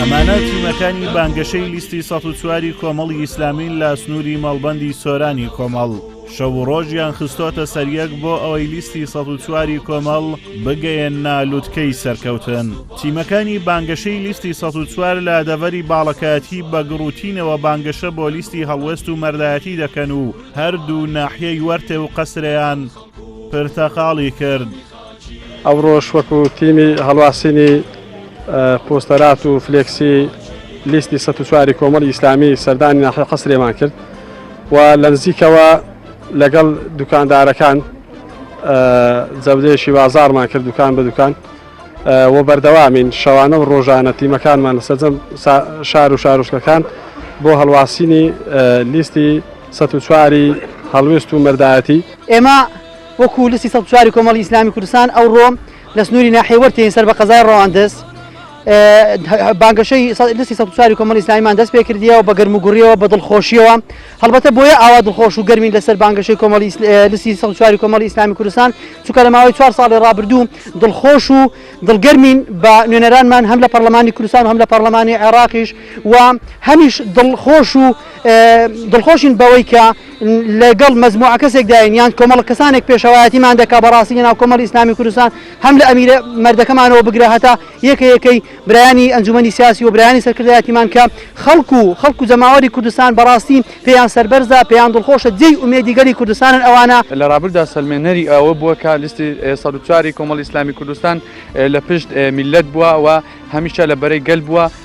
ئەمانە تیمەکانی بانگەشەی لیستی ١چواری کۆمەڵی ئیسلامین لە سنووری مەڵبەندی سۆرانی کۆمەڵ شەو و ڕۆژیان خستۆتە سەریەک بۆ ئەوەی لیستی ١چواری کۆمەڵ بگەیەن نالووتکەی سەرکەوتن تیمەکانی بانگەشەی لیستی ١چوار لە دەڤەری باڵەکایەتی بە گڕوتینەوە بانگەشە بۆ لیستی هەڵوێست و مەردایەتی دەکەن و هەردوو ناحیەی وەرتێ و قەسریان پرتەقاڵی کرد. ئەوڕۆش وەکو تیمی هەڵواسینی پۆستەرات و فلێکسی لیستی سە چواری کۆمەڵی ئیسلامی سەردانی ناحی قەسرێمان کرد و لە نزیکەوە لەگەڵ دوکاندارەکان جەودەیەکی بازارمان کرد دوکان بە دوکان و بەردەوامین شەوانە و ڕۆژانە تیمەکانمان لە سەرجەم شار و شارۆچکەکان بۆ هەڵواسینی لیستی سە چواری هەڵوێست و مەردایەتی ئێمە وەکوو لستی سەد و چوار ی کۆمەڵی ئیسلامی کوردستان ئەوڕۆ لە سنووری ناحیەی وەرتێین سەر بە قەزای ڕەواندز بانگەشەی لستی سەد و چوار ی کۆمەڵی ئیسلامیمان دەست پێ کردیەوە بە گەرم و گوڕیەوە بە دڵخۆشیەوە هەڵبەتە بۆیە ئاوا دڵخۆش و گەرمین لەسەر بانگەشەی کۆمەڵی لستی سەد و چوار ی کۆمەڵی ئیسلامی کوردستان چونکە لە ماوەی چوار ساڵی ڕابردوو دڵخۆش و دڵگەرمین بە نوێنەرانمان هەم لە پەرلەمانی کوردستان و هەم لە پەرلەمانی عێراقیش و هەمیش دڵخۆش و دڵخۆشین بەوەی کە لە گەڵ مەجموعە کەسێکداین یان کۆمەڵە کەسانێک پێشەوایەتیمان دەکا بەڕاستی لە ناو کۆمەڵی ئیسلامی کوردستان هەم لە ئەمیرە مەردەکەمانەوە بگرە هەتا یەکە یەکەی برایانی ئەنجومەنی سیاسی و برایانی سەرکردایەتیمان کە خەڵکو و خەڵکو جەماوەری کوردستان بەڕاستی پێیان سەربەرزە پێیان دڵخۆشە جێی ئومێدی گەلی کوردستانن ئەوانە لە رابردوودا سەلمێنەری ئەوە بووە کە لیستی سەد و چواری کۆمەڵی ئیسلامی کوردستان لە پشت میللەت بووە و هەمیشە لە بەرەی گەل بووە.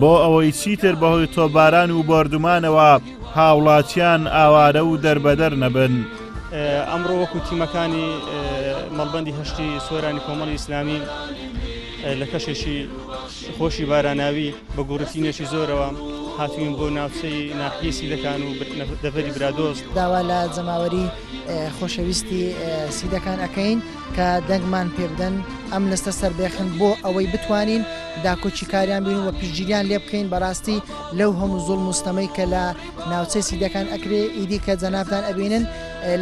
بۆ ئەوەی چیتر بەهۆی تۆپباران و بۆردومانەوە هاوڵاتیان ئاوارە و دەربەدەر نەبن. ئەمڕۆ وەکو تیمەکانی مەڵبەندی هەشتی سۆرانی کۆمەڵی ئیسلامی لە کەشێکی خۆشی باراناوی بە گوڕتینێکی زۆرەوە هاتوین بۆ ناوچەی ناحیسی دەکان و دەڤری برادۆست داوا لە جەماوەری خۆشەویستی سیدەکان ئەەکەین. کە دەنگمان پێ بدەن ئەم لستە سەربێخن بۆ ئەوەی بتوانین داکۆکیکاریان بین و پشتگیریان لێ بکەین بەڕاستی لەو هەموو زوڵم و ستەمەی کە لە ناوچەی سیدەکان ئەکرێ ئیدی کە جەنابتان ئەبینن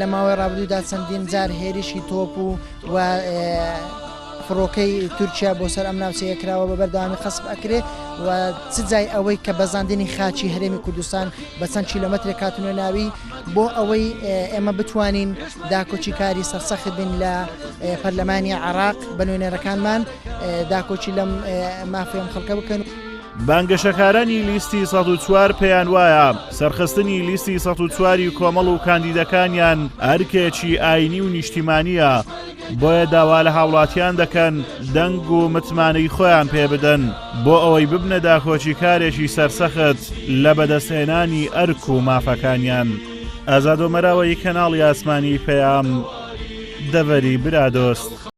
لە ماوەی ڕابردوودا چەندین جار هێرشی تۆپ و و فڕۆکەی تورکیا بۆ سەر ئەم ناوچەیە کراوە بە بەردەوامی قەسب ئەکرێ و چ جای ئەوەی کە بەزاندنی خاچی هەرێمی کوردستان بە چەند کیلۆمەترێک کاتونە ناوی بۆ ئەوەی ئێمە بتوانین داکۆکی کاری سەرسەخت بین لە پەرلەمانی عراق بە نوێنەرەکانمان داکۆکی لەم مافێم خەڵکە بکەن. بانگەشەکارانی لیستی 104 پێیان وایە سەرخستنی لیستی 104 کۆمەڵ و کاندیدەکانیان ئەرکێکی ئاینی و نیشتیمانیە بۆیە داوا لە هاوڵاتیان دەکەن دەنگ و متمانەی خۆیان پێ بدەن بۆ ئەوەی ببنە داکۆکی کارێکی سەرسەخت لە بەدەستهێنانی ئەرک و مافەکانیان ئازادۆمەراوەی کەناڵی ئاسمانی پەیام دەڤەری برادۆست.